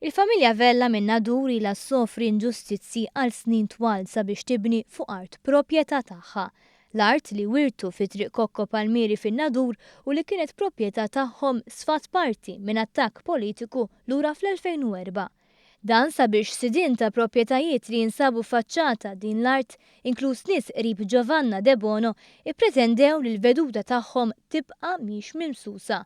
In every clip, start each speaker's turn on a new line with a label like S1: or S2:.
S1: Il-familja Vella minn Nadur ilha ssofri inġustizzji għal snin twal sabiex tibni fuq art proprjetà tagħha. L-art li wirtu fi Triq Kokko Palmieri fin-Nadur u li kienet proprjetà tagħhom sfat parti minn attakk politiku lura fl-2004. Dan sabiex sidien ta' proprjetajiet li jinsabu ffaċċata din l-art, inkluż nies qrib Giovanna Debono, ippretendew li l-veduta tagħhom tibqa' mhix mimsusa.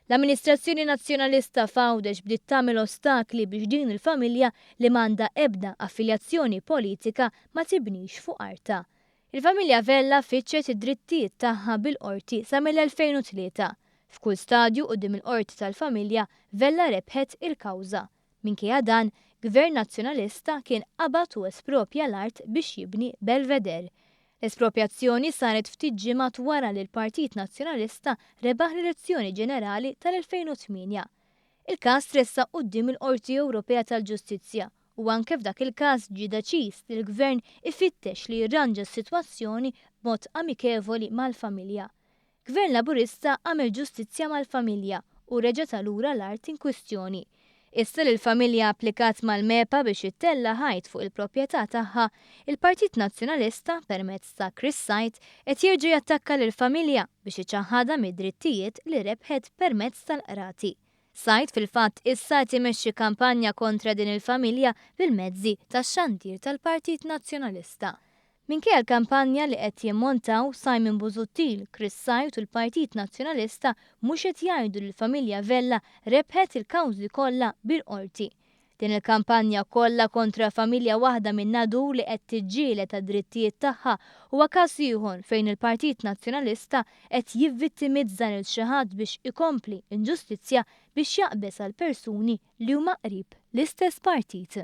S1: L-amministrazzjoni Nazzjonalista f'Għawdex bdiet tagħmel ostakli biex din il-familja li m'għandha ebda affiljazzjoni politika ma tibnix fuq artha. Il-familja Vella fittxet id-drittijiet tagħha bil-Qorti sa mill-2003. F'kull stadju quddiem il-Qorti tal-Familja, Vella rebħet il-kawża. Minkejja dan, Gvern Nazzjonalista kien qabad u esproprja l-art biex jibni Belvedere. L-esproprjazzjoni saret ftit ġimgħat wara li l-Partit Nazzjonalista rebaħ l-elezzjoni ġenerali tal-2008. Il-każ tressaq quddiem il-Qorti Ewropea tal-Ġustizzja u anke f'dak il-każ ġie deċiż li l-Gvern ifittex li jirranġa s-sitwazzjoni b'mod amikevoli mal-familja. Gvern Laburista għamel ġustizzja mal-familja u reġa' ta lura l-art inkwistjoni. Issa li l-familja applikat mal-MEPA biex ittella' ħajt fuq il-proprjetà tagħha, il-Partit Nazzjonalista, permezz ta' Chris Said, qed jerġa' jattakka lill-familja biex iċaħħadha mid-drittijiet li rebħet permezz tal-qrati. Said fil-fatt issa qed imexxi kampanja kontra din il-familja bil-mezzi tax-xandir tal-Partit Nazzjonalista. Minkejja l-kampanja li qed jimmontaw, Simon Busuttil, Chris Said u l-Partit Nazzjonalista mhux qed jgħidu li l-familja Vella rebħet il-kawżi kollha bil-Qorti. Din il-kampanja kollha kontra familja waħda minn Nadur li qed tiġġieled għad-drittijiet tagħha huwa każ ieħor fejn il-Partit Nazzjonalista qed jivvittimizza lil xi ħadd biex ikompli inġustizzja biex jaqbeż għall-persuni li huma qrib l-istess partit.